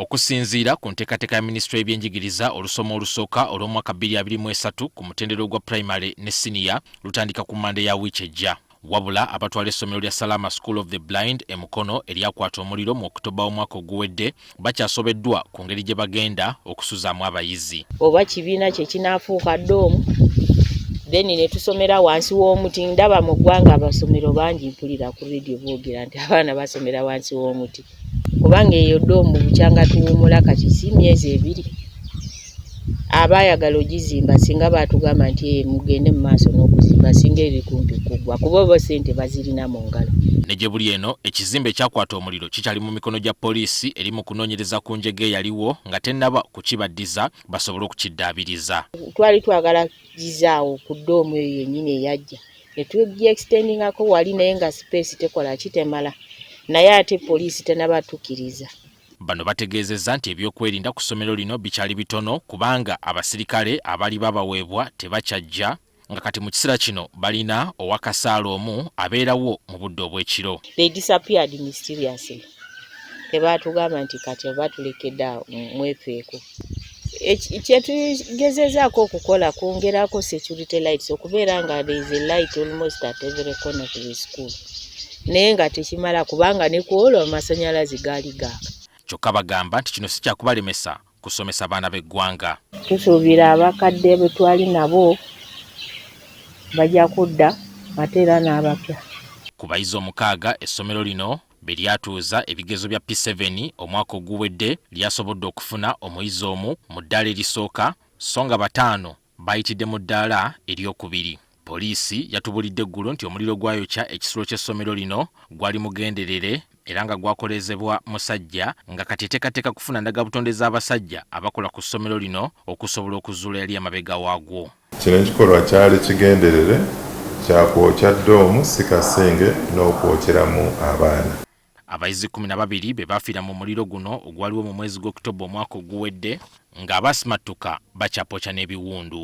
Okusinziira ku nteekateeka ya minisitule y'ebyenjigiriza olusoma olusooka olw'omwaka 2023 ku mutendera ogwa primary ne siniya lutandika ku mande ya wiiki ejja wabula abatwala essomero lya salama school of the blind e mukono eryakwata omuliro mu okitoba w'omwaka oguwedde bakyasobeddwa ku ngeri gye bagenda okusuzaamu abayizi oba kibiina kye kinaafuuka doomu then ne tusomera wansi w'omuti ndaba mu ggwanga abasomero bangi mpulira ku radio boogera nti abaana basomera wansi w'omuti kubanga eyo doomu bukyanga tuwuumula kati si myezi ebiri aba ayagala ogizimba singa baatugamba nti eh, mugende mu maaso n'okuzimba singa eri kumpi kuggwa kuba oba ssente bazirina mu ngalo ne gye buli eno ekizimbe ekyakwata omuliro kikyali mu mikono gya poliisi eri mu kunoonyereza ku njega eyaliwo nga tennaba kukibaddiza basobole okukiddaabiriza twali twagala gizaawo ku ddoomu eyo yennyini eyajja ne tugiextendingako wali naye nga space tekola ki temala naye ate poliisi tenaba tukiriza. Bano bategeezezza nti ebyokwerinda ku ssomero lino bikyali bitono kubanga abasirikale abaali babaweebwa tebakyajja nga kati mu kiseera kino balina owakasaala omu abeerawo mu budde obw'ekiro. tebaatugamba nti kati oba tulekedde awo mwefeeko. kyetugezezaako okukola kwongerako security lights okubeera nga there is a light almost at every corner of the school naye nga tekimala kubanga ne ku olwo amasanyalaze gaali gaaka kyokka bagamba nti kino si kyakubalemesa kusomesa baana b'eggwanga tusuubira abakadde bwe twali nabo bajja kudda ate era n'abapya ku bayizi omukaaga essomero lino be lyatuuza ebigezo bya P7 omwaka oguwedde lyasobodde okufuna omuyizi omu mu ddaala erisooka sso nga bataano baayitidde mu ddaala eryokubiri. Poliisi yatubulidde eggulo nti omuliro gwayokya ekisulo ky'essomero lino gwali mugenderere era nga gwakoleezebwa musajja nga kati eteekateeka kufuna ndagabutonde z'abasajja abakola ku ssomero lino okusobola okuzuula yali emabega waagwo. Kino ekikolwa kyali kigenderere kya kwokya ddoomu si kasinge n'okwokyeramu abaana. Abayizi kkumi na babiri be baafiira mu muliro guno ogwaliwo mu mwezi gw'October omwaka oguwedde ng'abaasimattuka bakyapooca n'ebiwundu.